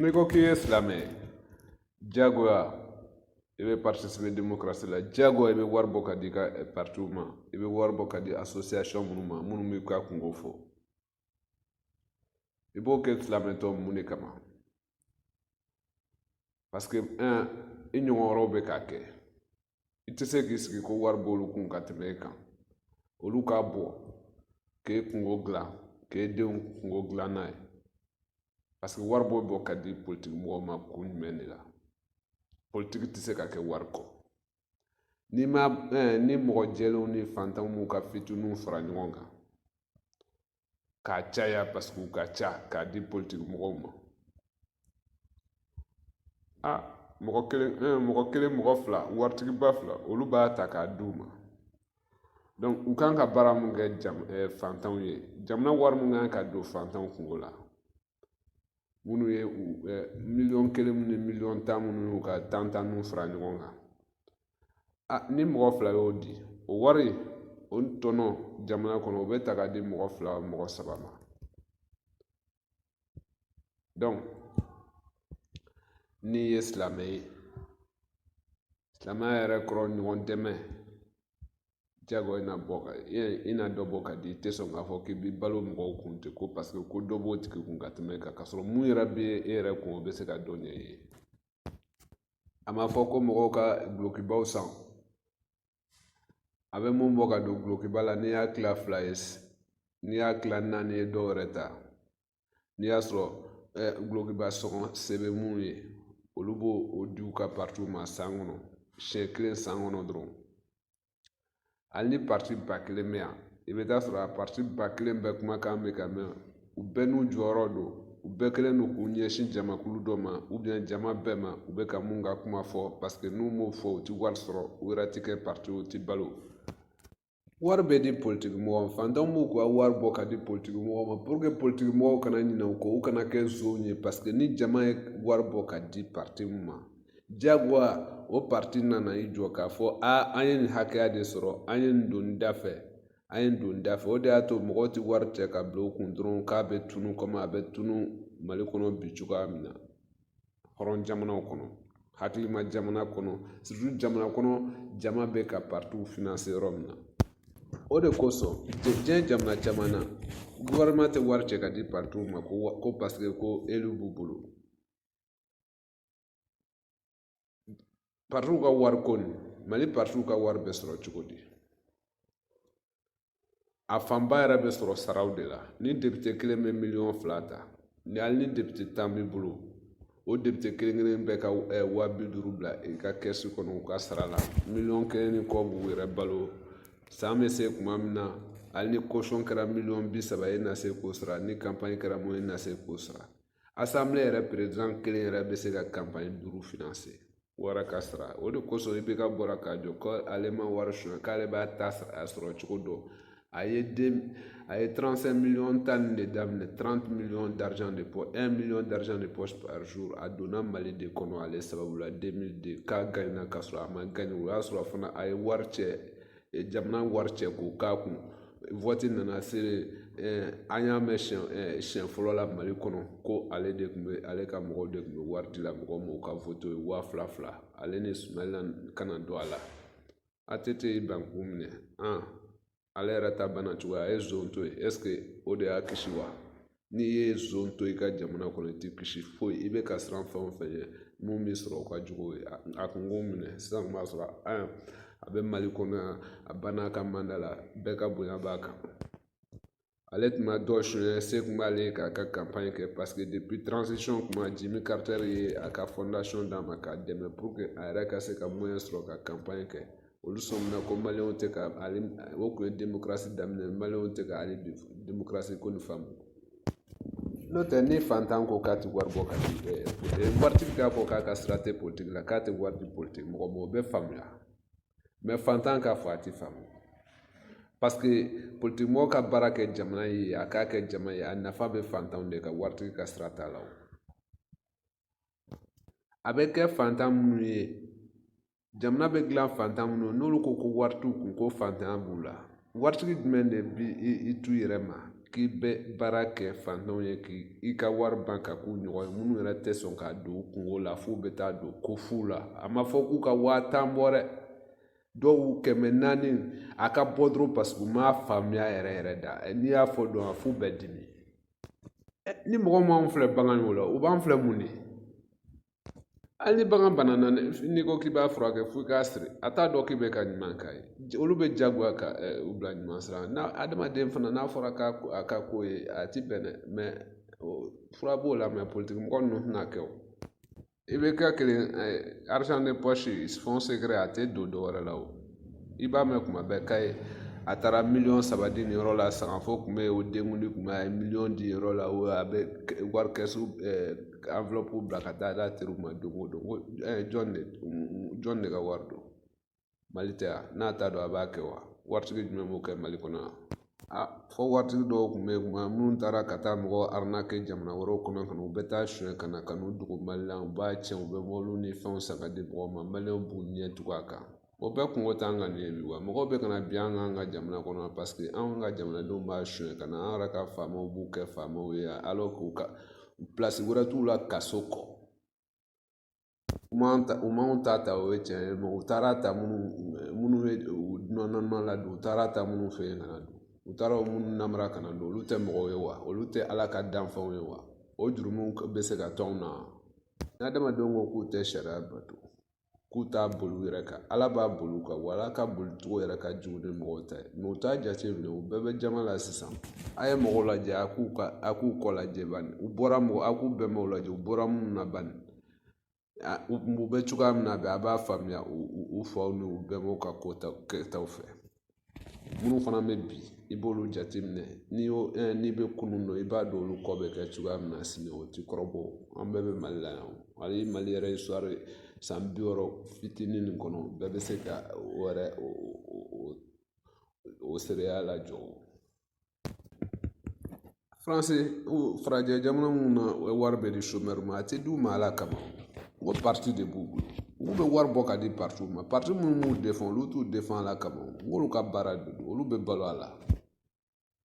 N'i ko k'i ye silamɛ ye diyagoya i bɛ participer démocratie la diyagoya i bɛ wari bɔ ka di i ka eh, partiw ma i bɛ wari bɔ ka di association minnu ma minnu b'i ka kunko fɔ i b'o kɛ silamɛtɔ mun de kama parce que un i ɲɔgɔn wɛrɛw bɛ k'a kɛ i tɛ se k'i sigi ko wari b'olu kun ka tɛmɛ e kan olu k'a bɔ k'e kunko dilan k'e denw kunko dilan n'a ye parce que wari b'o bɔ ka di politiki mɔgɔw ma kun jumɛn de la politiki tɛ se ka kɛ wari kɔ ni ma eh, ni mɔgɔ jɛlenw ni fantanw m'u ka fitiniw fara ɲɔgɔn kan k'a caya paseke u ka ca k'a di politiki mɔgɔw ma a mɔgɔ kelen eh, mɔgɔ kelen mɔgɔ fila waritigiba fila olu b'a ta k'a d'u ma donc u kan ka baara min kɛ jam, eh, fantanw ye jamana wari mun kan ka don fantanw kunko la minnu ye miliyɔn kelen minnu ye miliyɔn tan minnu y'u ka tan tan n'u fara ɲɔgɔn kan a ni mɔgɔ fila y'o di o wari o tɔnɔ jamana kɔnɔ o bɛ ta ka di mɔgɔ fila mɔgɔ saba ma dɔnku n'i ye silamɛ ye silamɛya yɛrɛ kɔrɔ ɲɔgɔn dɛmɛ jagoya i na bɔ ka i na dɔ bɔ ka di i tɛ sɔn k'a fɔ k'i bɛ balo mɔgɔw kun ten ko paseke ko dɔ b'o tigi kun ka tɛmɛ e kan k'a sɔrɔ mun yɛrɛ bɛ e yɛrɛ kun o bɛ se ka dɔ ɲɛ i ye a ma fɔ ko mɔgɔw ka dulokibaw san a bɛ mun bɔ ka don dulokiba la n'i y'a tila fila ye n'i y'a tila naani ye dɔw yɛrɛ ta n'i y'a sɔrɔ dulokiba sɔngɔ se bɛ mun ye olu b'o di u ka partiw ma san kɔnɔ siɲɛ kelen san kɔnɔ dɔrɔn hali ni pariti ba kelen bɛ yan i bɛ t'a sɔrɔ pariti ba kelen bɛɛ kumakan bɛ ka mɛn u bɛɛ n'u jɔyɔrɔ don u bɛɛ kɛlen don k'u ɲɛsin jamakulu dɔ ma ubiyɛn jama bɛɛ ma u bɛ ka mun ka kuma fɔ paseke n'u m'o fɔ u ti wari sɔrɔ u yɛrɛ ti kɛ pariti u ti balo wari bɛ di politiki mɔgɔ ma fantanw b'u ka wari bɔ ka di politiki mɔgɔ ma puruke politiki mɔgɔw kana ɲinɛ u kɔ u kana kɛ nsonw ye paseke ni jama ye wari bɔ ka di pariti min ma jagoya o pariti na na i jɔ k'a fɔ a an ye nin hakɛya de sɔrɔ an ye nin don nin da fɛ an ye nin don nin da fɛ o de y'a to mɔgɔw tɛ wari cɛ ka bila u kun dɔrɔn k'a bɛ tunu kɔmi a bɛ tunu Mali kɔnɔ bi cogoya min na hɔrɔn jamanaw kɔnɔ hakilima jamana kɔnɔ surtout jamana kɔnɔ jama bɛ ka partiw finanse yɔrɔ min na o de kosɔn diɲɛ jamana caman na gofɛrɛnɛman tɛ wari cɛ ka di partiw ma ko ko paseke ko eliw b'u bolo paritiw ka wari ko nin mali paritiw ka wari bɛ sɔrɔ cogo di a fanba yɛrɛ bɛ sɔrɔ saraw de la ni depite kelen bɛ miliyɔn fila ta ni hali ni depite tan b'i bolo o depite kelen kelen bɛɛ ka eh, waa bi duuru bila i ka kɛsi kɔnɔ u ka sara la miliyɔn kelen ni kɔ b'u yɛrɛ balo san bɛ se tuma min na hali ni kosɔn kɛra miliyɔn bi saba ye i na se k'o sara ni kanpaɲi kɛra mun ye i na se k'o sara asanbile yɛrɛ perezidan kelen yɛrɛ bɛ se ka kanpaɲi duuru finanse wara ka sara o de kosɔn IBK bɔra k'a jɔ ko ale ma wari sonya k'ale b'a ta sɔrɔ cogo dɔn a ye den a ye 35 miliyɔn tali de daminɛ 30 miliyɔn d'argent de poche 1 miliyɔn d'argent de poche par jour a donna mali de kɔnɔ ale sababu la 2002 k'a gagnera k'a sɔrɔ a ma gagner o y'a sɔrɔ fana a ye wari cɛ jamana wari cɛ k'o k'a kun waati nana se an y'a mɛn siɲɛ siɲɛ fɔlɔ la mali kɔnɔ ko ale de tun bɛ ale ka mɔgɔw de tun bɛ wari di la mɔgɔw ma u ka wote ye waa fila fila ale ni sumayila kana don a la ATT y'i ban k'u minɛ an ale yɛrɛ ta banna cogoya a ye zon to yen ɛseke o de y'a kisi wa n'i ye zon to i ka jamana kɔnɔ i tɛ kisi foyi i bɛ ka siran fɛn o fɛn ye min b'i sɔrɔ o ka jugu ye a kun k'o minɛ sisan kun b'a sɔrɔ a bɛ mali kɔnɔ yan a banna a ka manda la bɛɛ ka bonya b'a kan ale tun ma dɔ sonyɛ se kun b'ale ye k'a ka kanpaɲi kɛ paseke depi transition kuma jimi karitɛri ye a ka fɔndasɔn d'a ma k'a dɛmɛ puruke a yɛrɛ ka se ka mɔyɛn sɔrɔ ka kanpaɲi kɛ olu sɔmina ko maliyɛnw tɛ ka ale o kun ye demokarasi daminɛ maliyɛnw tɛ ka ale demokarasi ko nin faamu n'o tɛ ni fantan ko k'a tɛ wari bɔ ka di waritigi k'a fɔ k'a ka sira tɛ politiki la k'a tɛ wari di politiki mɔgɔ ma o bɛ faamuya mɛ fantan k'a fɔ a tɛ faamu paseke politikimɔgɔ ka baara kɛ jamana ye a k'a kɛ jama ye a nafa bɛ fantanw de kan waritigi ka sira t'a la o a bɛ kɛ fantan minnu ye jamana bɛ dilan fantan minnu ye n'olu ko ko wari t'u kun ko fantanya b'u la waritigi jumɛn de b'i to i yɛrɛ ma k'i bɛ baara kɛ fantanw ye k'i i ka wari ban ka k'u ɲɔgɔn ye minnu yɛrɛ tɛ sɔn ka don u kunko la f'u bɛ taa don ko fu la a ma fɔ k'u ka waa tan bɔ dɛ dɔw kɛmɛ naani a ka bɔ dɔrɔn paseke u m'a faamuya yɛrɛ yɛrɛ da n'i y'a fɔ dɔn a f'u bɛ dimi ni mɔgɔ m'anw filɛ bagan ye o la u b'an filɛ mun de hali ni bagan banana n'i ko k'i b'a furakɛ f'i k'a siri a t'a dɔn k'i bɛ ka ɲuman k'a ye olu bɛ jagoya ka u bila ɲuman sira la n'a adamaden fana n'a fɔra k'a a ka ko ye a ti bɛn dɛ fura b'o la mɛ politikimɔgɔ ninnu tɛna kɛ o i bɛ kɛ kelen argent de poche fonds secret a tɛ don dɔwɛrɛ la o i b'a mɛn kuma bɛɛ ka ye a taara miliyɔn saba di nin yɔrɔ la sangafo kun bɛ yen o denkundi kun bɛ a ye miliyɔn di yɔrɔ la o a bɛ wari kɛsu enveloppe bila ka taa d'a teriw ma don o don jɔn de jɔn de ka wari don mali tɛ yan n'a t'a dɔn a b'a kɛ wa waritigi jumɛn b'o kɛ mali kɔnɔ yan a fɔ waritigi dɔw tun bɛ yen kuma minnu taara ka taa mɔgɔ arnaquer jamana wɛrɛw kɔnɔ ka na u bɛ taa sonyɛ ka na ka n'u dogo mali la u b'a tiɲɛ u bɛ mɔbiliw ni fɛnw san ka di mɔgɔw ma maliyɛnw b'u ɲɛ tugu a kan o bɛɛ kunko t'an kan nin ye bi wa mɔgɔw bɛ ka na bin an kan an ka jamana kɔnɔ paseke anw ka jamanadenw b'a sonyɛ ka na an yɛrɛ ka faamaw b'u kɛ faamaw ye alors que pilasi wɛrɛ t'u la kaso kɔ U m'an ta u m'an ta ta o ye tiɲɛ ye u taara ta minnu minnu bɛ u nɔnɔ la don u taara ta minnu fɛ yen ka na don u taara o minnu namara ka na don olu tɛ mɔgɔw ye wa olu tɛ ala ka danfɛnw ye wa o jurumu bɛ se ka to anw na n'adamadenw ko k'u tɛ sariya bato k'u t'a boli u yɛrɛ kan ala b'a boli u kan wa ala ka boli cogo yɛrɛ ka jugu ni mɔgɔw ta ye mɛ u t'a jate minɛ u bɛɛ bɛ jama la sisan a ye mɔgɔw lajɛ a k'u ka a k'u kɔ lajɛ bani u bɔra mɔgɔ a k'u bɛnbaw lajɛ u bɔra minnu na bani u bɛ cogoya min na bɛ a b'a faamuya u faw n'u bɛnbaw ka kotaw kɛtaw fɛ minnu fana bɛ bi i b'olu jateminɛ n'i y'o n'i bɛ kunun dɔn i b'a dɔn olu kɔ bɛ kɛ cogoya min na sini o t'i kɔrɔbɔ an bɛɛ bɛ mali la yan hali mali yɛrɛ sɔrɔ san bi wɔɔrɔ fitinin nin kɔnɔ bɛɛ bɛ se ka o yɛrɛ o o seereya la jɔ faransi farajɛ jamana minnu na o ye wari bɛ di chômeur ma a tɛ d'u ma ala kama o pariti de b'u bolo u bɛ wari bɔ ka di paritiw ma pariti minnu b'u defan olu t'u defan ala kama olu ka baara de don olu bɛ balo a la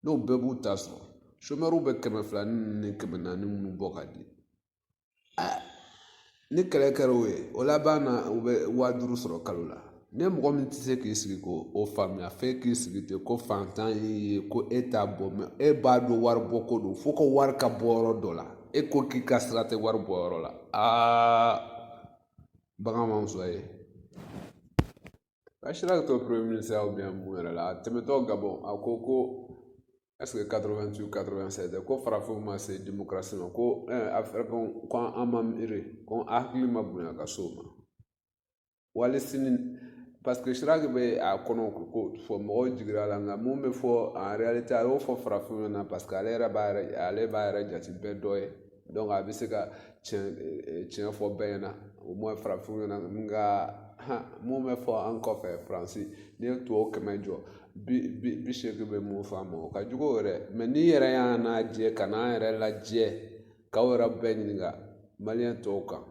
n'o bɛɛ b'u ta sɔrɔ chômeurw bɛ kɛmɛ fila ni kɛmɛ naani minnu bɔ ka di ni kɛlɛ kɛra u ye o laban na u bɛ waa duuru sɔrɔ kalo la ne mɔgɔ min tɛ se k'i sigi k'o faamuya f'e k'i sigi ten ko fantan y'i ye ko e t'a bɔ mɛ e b'a dɔn wari bɔ ko don fo ka wari ka bɔ yɔrɔ dɔ la e ko k'i ka sira tɛ wari bɔ yɔrɔ la aa bagan ma muso ye Ka Chirac to premier ministre aw bɛn mun yɛrɛ la a tɛmɛtɔ Gabon a ko ko ɛseke quatre-vingt-huit quatre-vingt-sept ko farafinw ma se demokarasi ma ko a fɔra ko an ma miiri ko an hakili ma bonya ka se o ma wali sini paseke Chirac bɛ a kɔnɔ ko fɔ mɔgɔw jigira a la nka mun bɛ fɔ a a y'o fɔ farafinw na paseke ale yɛrɛ b'a yɛrɛ ale b'a yɛrɛ jate bɛɛ dɔ ye donc a bɛ se ka tiɲɛ fɔ bɛɛ ɲɛna o mɔ farafinw ɲɛna min ka mun bɛ fɔ an kɔfɛ faransi n'i ye tubabu kɛmɛ jɔ bi bi bi seegin bɛ mun fɔ an ma o ka jugu yɛrɛ mɛ n'i yɛrɛ y'an lajɛ ka n'an yɛrɛ lajɛ k'aw yɛrɛ bɛɛ ɲininka maliyɛn tɔw kan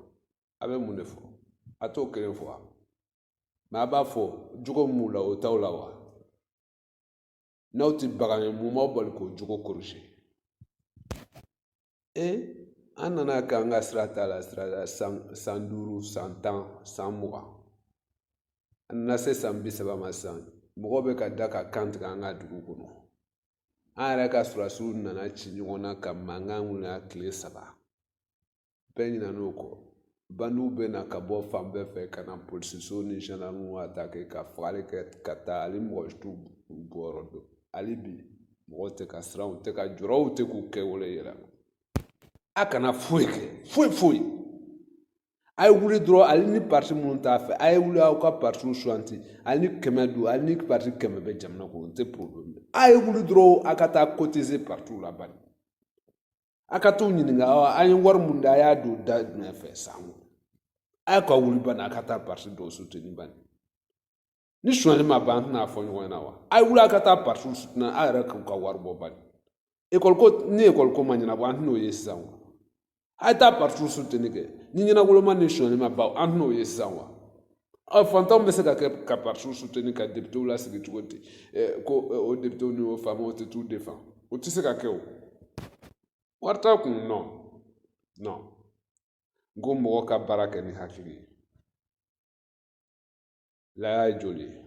a bɛ mun de fɔ a t'o kelen fɔ wa mɛ a b'a fɔ jogo min b'u la o t'aw la wa n'aw tɛ bagan ye mun b'aw bali k'o jogo kɔlɔsi e an nana k'an ka sira t'a la sira san san duuru san tan san mugan an nana se san bi saba ma san mɔgɔw bɛ ka da ka kan tigɛ an ka dugu kɔnɔ an yɛrɛ ka sɔrɔdasiw nana ci ɲɔgɔn na ka mankan wuli yan tile saba bɛɛ ɲinɛna o kɔ bandiw bɛ na ka bɔ fan bɛɛ fɛ ka na polisiso ni zandarmu atake ka fagali kɛ ka taa hali mɔgɔ si t'u bɔyɔrɔ dɔn hali bi mɔgɔw tɛ ka siran u tɛ ka jɔrɔ u tɛ k'u kɛwale yira a kana foyi kɛ foyi foyi a ye wuli dɔrɔn hali ni pariti minnu t'a fɛ a ye wuli aw ka paritiw suganti hali ni kɛmɛ don hali ni pariti kɛmɛ bɛ jamana kɔnɔ o tɛ porobilɛmu a ye wuli dɔrɔn a ka taa kotise paritiw la bani a ka t'u ɲininka an ye wari mun da a y'a don da jumɛn fɛ san kɔnɔ a ye ka wuli bani a ka taa pariti dɔw suteni bani ni sonyali ma ban an tɛna fɔ ɲɔgɔn ɲɛna wa a ye wuli a ka taa paritiw suteni a yɛrɛ k'u ka wari bɔ bani ekɔliko ni ekɔliko ma ɲɛnabɔ an tɛn'o ye sisan wa a ye taa paritiw suteni kɛ ni ɲɛnagoloma ni sonyali ma ban an tɛn'o ye sisan wa ɔ fantanw bɛ se ka kɛ ka paritiw suteni ka deputew lasigi cogo di ko o deputew ni o faamaw tɛ t'u defan o tɛ se ka kɛ o wari t'a kun nɔ nɔ n ko mɔgɔ ka baara kɛ ni hakili ye laya ye joli ye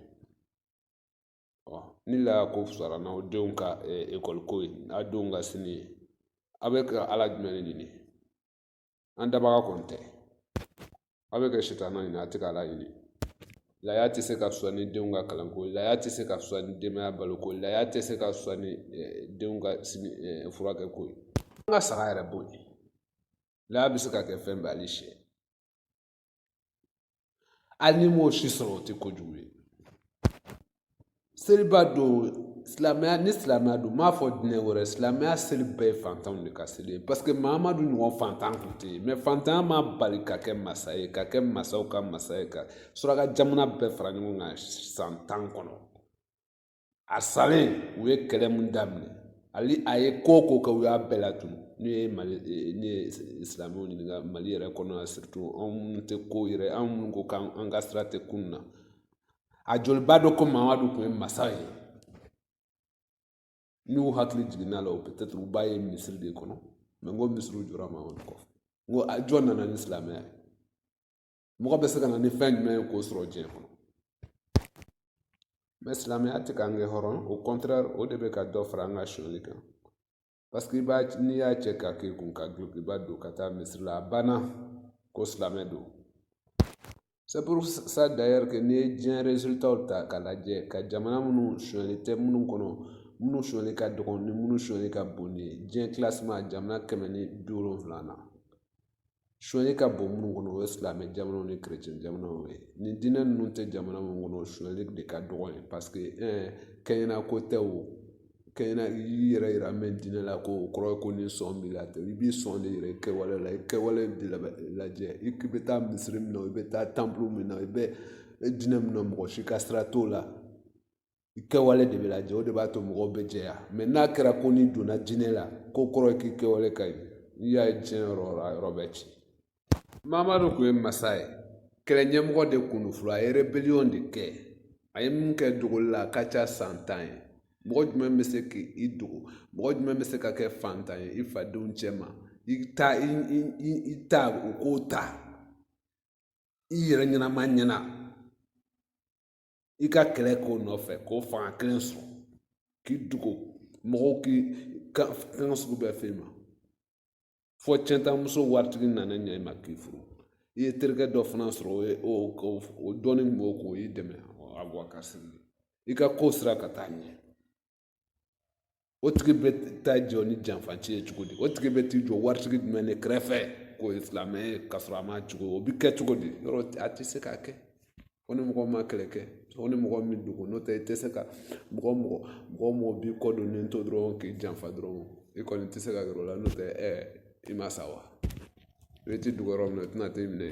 ɔ ni laya ko fisara n'aw denw ka ekɔli ko ye n'aw denw ka sini ye aw bɛ ka ala jumɛn de ɲini an dabaga kɔni tɛ aw bɛ ka sitanɛ ɲini a tɛ k'ala ɲini laya tɛ se ka fisaya ni denw ka kalanko ye laya tɛ se ka fisaya ni denbaya baloko ye laya tɛ se ka fisaya ni eh, denw ka sini eh, furakɛko ye an ka saga yɛrɛ bɔ yen laya bɛ se ka kɛ fɛn bɛɛ hali syɛ a n'i m'o si sɔrɔ o tɛ kojugu ye seliba don silamɛya ni silamɛya don n m'a fɔ diinɛ wɛrɛ silamɛya seli bɛɛ ye fantanw de ka seli ye paseke mahamadu ɲɔgɔn fantan tun tɛ yen mɛ fantanya m'a bali ka kɛ masa ye ka kɛ masaw ka masa ye ka suraka jamana bɛɛ fara ɲɔgɔn kan san tan kɔnɔ a salen u ye kɛlɛ min daminɛ ale a ye ko o ko kɛ u y'a bɛɛ latunu ne ye mali eh, ne ye silamɛw ɲininka mali yɛrɛ kɔnɔ yan surtout anw minnu tɛ ko yɛrɛ anw minnu ko k'an ka sira tɛ kun na a joli b'a dɔn ko mamadu tun ye masa ye n'u hakili jiginna a la o peut-être u b'a ye misiri de kɔnɔ mɛ n ko misiriw jɔra mamadu kɔfɛ n ko jɔn nana ni silamɛya ye mɔgɔ bɛ se ka na ni fɛn ɲuman ye k'o sɔrɔ diinɛ kɔnɔ mɛ silamɛya tɛ k'an kɛ hɔrɔn au contraire o de bɛ ka dɔ fara an ka sonyali kan paseke n'i y'a cɛ k'a k'i kun ka dulokiba don ka taa misiri la a banna ko silamɛ don c'est pour ça d'ailleurs que n'i ye diɲɛ résultats ta k'a lajɛ ka jamana minnu sonyali tɛ minnu kɔnɔ minnu sonyali ka dɔgɔn ni minnu sonyali ka bon n'i ye diɲɛ classement jamana kɛmɛ ni bi wolonwula na sonyali ka bon minnu kɔnɔ o ye silamɛ jamanaw ni kerecɛn jamanaw ye ni diinɛ ninnu tɛ jamana minnu kɔnɔ sonyali de ka dɔgɔ yen paseke kɛɲɛna ko tɛ o kɛɲɛna i y'i yɛrɛ yira n bɛ diinɛ la ko o kɔrɔ ye ko ni sɔn b'i la tɛ i b'i sɔn de yira i kɛwale la i kɛwale de lajɛ i bɛ taa misiri min na i bɛ taa temple min na i bɛ diinɛ min na mɔgɔ si ka sira t'o la i kɛwale de bɛ lajɛ o de b'a to mɔgɔw bɛ jɛya mɛ n'a kɛra ko n'i donna diinɛ la k'o kɔrɔ ye k'i kɛwale ka ɲi n'i y'a ye diɲɛ yɔrɔ o yɔrɔ bɛɛ ci mamadu tun ye masa ye kɛlɛ ɲɛmɔgɔ de kun don fɔlɔ a ye rebeliyɔn de kɛ a ye min kɛ dogoli la a ka ca san tan ye mɔgɔ jumɛn bɛ se k'i dogo mɔgɔ jumɛn bɛ se ka kɛ fantan ye i fadenw cɛma i ta i i i ta u k'o ta i yɛrɛ ɲɛnama ɲɛ na i ka kɛlɛ k'o nɔfɛ k'o fanga kelen sɔrɔ k'i dugu mɔgɔw ka kan sugu bɛɛ f'e ma fɔ cɛntamuso waritigi nana ɲɛ i ma k'i furu i ye terikɛ dɔ fana sɔrɔ o ye o dɔɔnin kun b'o kun o y'i dɛmɛ a bɔ a ka sigi i ka ko sira ka taa ɲɛ o tigi bɛ taa jɔ ni janfanci ye cogo di o tigi bɛ t'i jɔ waritigi jumɛn de kɛrɛfɛ k'o ye silamɛ ye k'a sɔrɔ a ma cogo o bɛ kɛ cogo di yɔrɔ a tɛ se ka kɛ o ni mɔgɔ ma kɛlɛ kɛ o ni mɔgɔ min dogo n'o tɛ i tɛ se ka mɔgɔ mɔgɔ mɔgɔ mɔgɔ b'i kɔ don nin to dɔrɔn k'i janfa dɔrɔn i kɔni tɛ se ka yɔrɔ la n'o tɛ ɛ i ma sa wa i t'i dogo yɔrɔ min na i tɛna t'i minɛ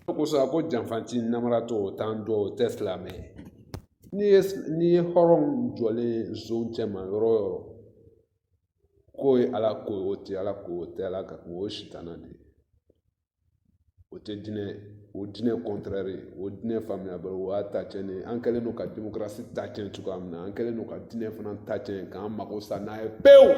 o kosɔn a ko janfanci namaratɔ o t'an dɔ o tɛ silamɛ ye n'i ye n'i ye hɔrɔn jɔlen zonw cɛma yɔrɔ o yɔrɔ k'o ye ala ko o tɛ ala ko o tɛ ala ko o ye sitanɛ de ye o tɛ diinɛ o diinɛ contraire o diinɛ faamuyabali o y'a ta cɛn de ye an kɛlen don ka demokarasi ta cɛn cogoya min na an kɛlen don ka diinɛ fana ta cɛn k'an mago sa n'a ye pewu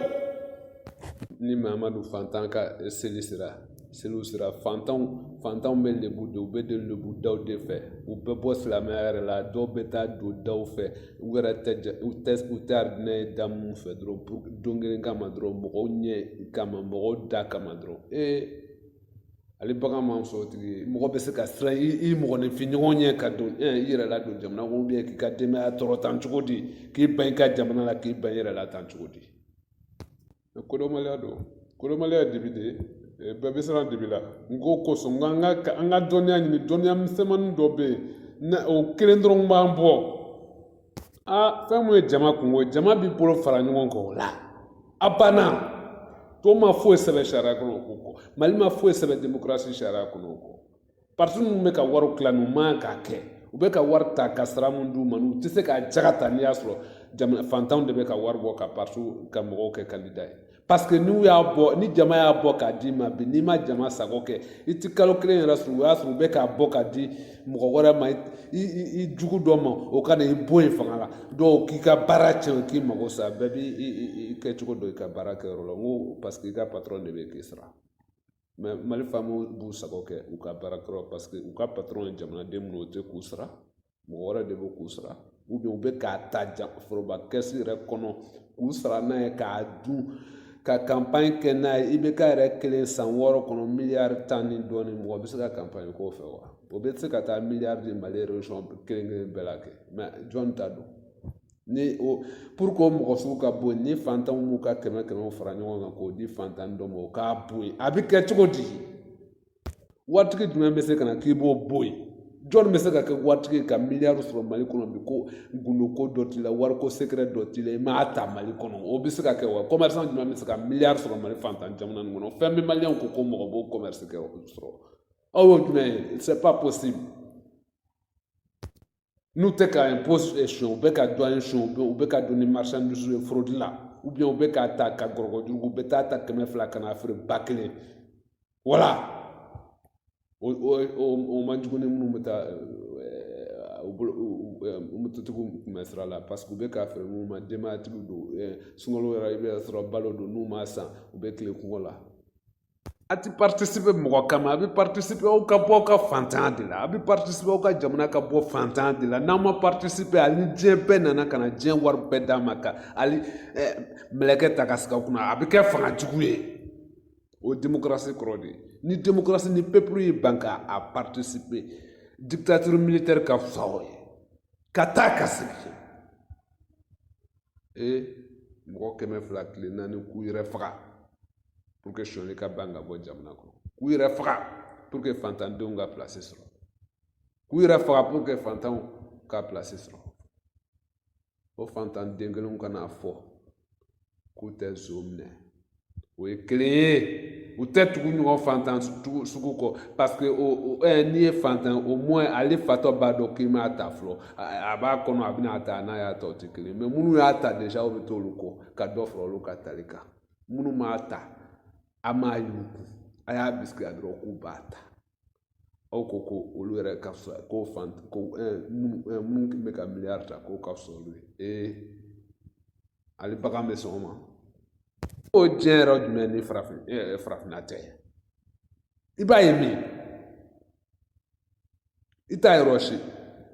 ni maa ma don fantan ka seli sira seliw sira fantanw fantanw bɛ lebu de u bɛ don lebu daw de fɛ u bɛ bɔ silamɛya yɛrɛ la dɔw bɛ taa don daw fɛ u yɛrɛ tɛ ja u tɛ u tɛ arijinɛ ye da minnu fɛ dɔrɔn pour don kelen kama dɔrɔn mɔgɔw ɲɛ kama mɔgɔw da kama dɔrɔn ee ale bagan man sɔrɔ tigi ye mɔgɔ bɛ se ka siran i i mɔgɔninfin ɲɔgɔn ɲɛ ka don ɛ i yɛrɛ la don jamana kɔnɔ k'i ka denbaya tɔɔrɔ tan cogo di k'i ban i ka jamana la k'i ban i yɛrɛ la tan cogo di kodɔnbaliya don kodɔnbaliya de bɛ de bɛɛ bɛ siran de b'i la n ko o kosɔn n ka ka an ka dɔnniya ɲini dɔnniya misɛnmanin dɔ bɛ yen na o kelen dɔrɔn b'an bɔ aa fɛn mun ye jama kunko ye jama b'i bolo fara ɲɔgɔn kan o la a banna tɔw ma foyi sɛbɛn sariya kɔnɔ o ko kɔ mali ma foyi sɛbɛn demokarasi sariya kɔnɔ o kɔ parti minnu bɛ ka wariw tila n'u man k'a kɛ u bɛ ka wari ta ka sara min d'u ma n'u tɛ se k'a jaga ta n'i y'a sɔrɔ jamana fantanw de bɛ ka wari bɔ ka parti ka mɔgɔw kɛ kandida ye parce que n'u y'a bɔ ni jama y'a bɔ k'a d'i ma bi n'i ma jama sago kɛ i tɛ kalo kelen yɛrɛ sɔrɔ o y'a sɔrɔ u bɛ k'a bɔ k'a di mɔgɔ wɛrɛ ma i jugu dɔ ma o ka na i bɔ yen fanga la dɔw k'i ka baara tiɲɛ k'i mago sa bɛɛ b'i kɛcogo dɔn i ka baara kɛyɔrɔ la n ko parce que i ka patɔrɔn de bɛ k'i sara mɛ mali faamaw b'u sago kɛ u ka baara kɛyɔrɔ parce que u ka patɔrɔn ye jamanaden minnu o tɛ k'u sara mɔgɔ wɛrɛ de bɛ k'u sara u bɛ u bɛ k'a ta ja foroba kɛsi yɛrɛ kɔnɔ k'u sara n'a ye k'a dun ka kanpaɲi kɛ n'a ye ibk yɛrɛ kelen san wɔɔrɔ kɔnɔ miliyari tan ni dɔɔnin mɔgɔ bɛ se ka kanpaɲi k'o fɛ wa o bɛ se ka taa miliyari di mali région kelen kelen bɛɛ la kɛ mɛ jɔn ta don ni o pour que o mɔgɔ sugu ka bɔ yen ni fantanw b'u ka kɛmɛ kɛmɛw fara ɲɔgɔn kan k'o di fantan dɔ ma o k'a bɔ yen a bɛ kɛ cogo di waritigi jumɛn bɛ se ka na k'i b'o bɔ yen jɔnni bɛ se ka kɛ waritigi ka miliyari sɔrɔ mali kɔnɔ bi ko gundoko dɔ t'i la wariko sekɛrɛ dɔ t'i la i m'a ta mali kɔnɔ o bɛ se ka kɛ wa kɔmɛrisan jumɛn bɛ se ka miliyari sɔrɔ mali fantan jamana nin kɔnɔ fɛn bɛ maliyɛnw ko ko mɔgɔ b'o kɔmɛrisi kɛ sɔrɔ aw y'o jumɛn ye c'est pas possible n'u tɛ ka impôt sonyɛ u bɛ ka douane sonyɛ u bɛ ka don ni marchandise ye fraude la ou bien u bɛ k'a ta ka gɔrɔ kojugu u bɛ taa a ta kɛmɛ fila ka n'a feere ba kelen wala o o man jugu ni minnu bɛ taa u bolo mototigiw tun bɛ sira la parce que u bɛ k'a feere minnu ma denbayatigiw don sunkalo yɛrɛ i bɛ sɔrɔ balo don n'u m'a san u bɛ tilen kɔngɔ la a ti paritisipe mɔgɔ kama a bɛ paritisipe aw ka bɔ aw ka fantanya de la a bɛ paritisipe aw ka jamana ka bɔ fantanya de la n'aw ma paritisipe hali diɲɛ bɛɛ nana ka na diɲɛ wari bɛɛ d'a ma ka hali mɛlɛkɛ ta ka sigi aw kunna a bɛ kɛ fanga jugu ye o ye demokarasi kɔrɔ de ye ni demokarasi ni pepulu y'i ban ka paritisipe dikitatiri militɛri ka fisa o ye ka taa ka segin ee mɔgɔ kɛmɛ fila tile naani k'u yɛrɛ faga pour que sonya ka ban ka bɔ jamana kɔnɔ k'u yɛrɛ faga pour que fantandenw ka place sɔrɔ k'u yɛrɛ faga pour que fantanw ka place sɔrɔ o fantan den kelenw ka na fɔ k'u tɛ zon minɛ o ye kelen ye u tɛ tugu ɲɔgɔn fantan sugu kɔ parce que o o ɛ eh, n'i ye fantan nommer hali fatɔ b'a dɔn k'i m'a ta fɔlɔ a b'a kɔnɔ a bɛna a ta n'a y'a ta o tɛ kelen ye mais minnu y'a ta déjà o bɛ t'olu kɔ ka dɔ fara olu ka tali kan. minnu m'a ta a m'a y'u kun a y'a bisigi la dɔrɔn k'u b'a ta aw ko ko olu yɛrɛ ka fisa ko fan ko minnu bɛ ka miliyari ta k'o ka fisa olu ye ee hali bagan bɛ sɔn o ma o diɲɛ yɔrɔ jumɛn ni farafin farafinna tɛ i b'a ye min i t'a ye yɔrɔ si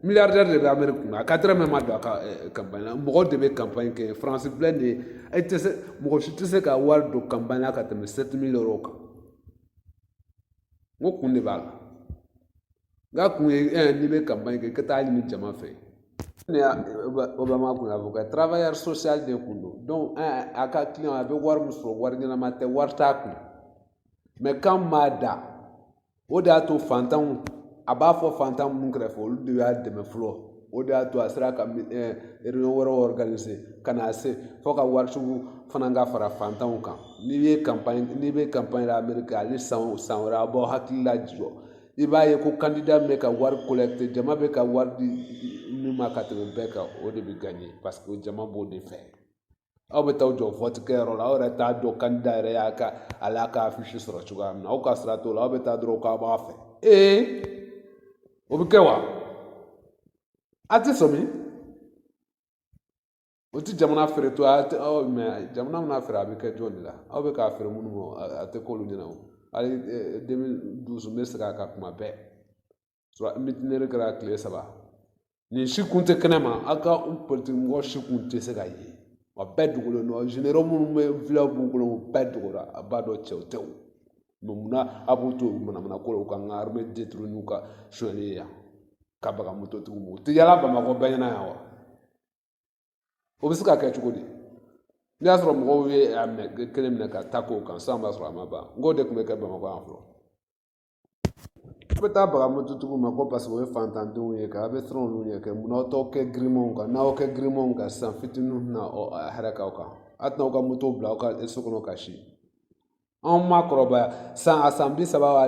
miliyardɛri de bɛ ameriki kunna a ka dɔrɔmɛ ma don a ka kanpaɲi la mɔgɔ de bɛ kanpaɲi kɛ faransi filɛ nin ye e tɛ se mɔgɔ si tɛ se ka wari don kanpaɲi la ka tɛmɛ sɛti mili ero kan n ko kun de b'a la n ka kun ye eh, n'i bɛ kanpaɲi kɛ i ka taa a ɲini jama fɛ obama kun ye avocat travailleur social de kun don donc eh, a ka client a bɛ wari min sɔrɔ wari ɲɛnama tɛ wari t'a kun mɛ kan m'a da o de y'a to fantanw a b'a fɔ fantan minnu kɛrɛfɛ olu de y'a dɛmɛ fɔlɔ o de y'a to a sera ka réunion wɛrɛw organiser ka na se fɔ ka waritigiw fana ka fara fantanw kan n'i ye campagne n'i bɛ campagne la Amérique hali san san wɛrɛ a b'aw hakili lajɔ i b'a ye ko candidat min bɛ ka wari collecter jama bɛ ka wari di min ma ka tɛmɛ bɛɛ kan o de bɛ gagner parce que jama b'o de fɛ. aw bɛ taa jɔ vɔti kɛyɔrɔ la aw yɛrɛ t'a dɔn kandida yɛrɛ y'a ka ale y'a ka afisi sɔrɔ cogoya min na aw ka sira t'o la aw bɛ taa dɔrɔn k'a b'a fɛ ee o bɛ kɛ wa a tɛ sɔmi o tɛ jamana feere to a tɛ aw mɛ jamana mana feere a bɛ kɛ jɔn de la aw bɛ k'a feere minnu ma a tɛ k'olu ɲɛna o hali deux mille douze n bɛ segin a kan kuma bɛɛ sɔrɔ mitinɛri kɛra tile saba nin si kun tɛ kɛnɛ ma aw ka politiki mɔgɔ si kun tɛ se ka ye wa bɛɛ dogolen don zenero minnu bɛ vilaw b'u bolo u bɛɛ dogora a b'a dɔn cɛw tɛ o mɛ munna a b'u to manamana ko la u k'an ka armɛ deturu n'u ka sonyali ye yan ka baga mototigiw ma u tɛ yala bamakɔ bɛɛ ɲɛna yan wa o bɛ se ka kɛ cogo di n'i y'a sɔrɔ mɔgɔw ye a minɛ kelen minɛ ka taa k'o kan san b'a sɔrɔ a ma ban n k'o de tun bɛ kɛ bamakɔ yan fɔlɔ bɛ taa baga mototigiw ma ko paseke o ye fantandenw ye kɛ a bɛ siran olu ɲɛ kɛ munna aw t'aw kɛ girimanw kan n'aw kɛ girimanw kan sisan fitininw bɛna a hɛrɛ k'aw kan a tɛna aw ka moto bila aw ka so kɔnɔ ka si anw ma kɔrɔbaya san a san bi saba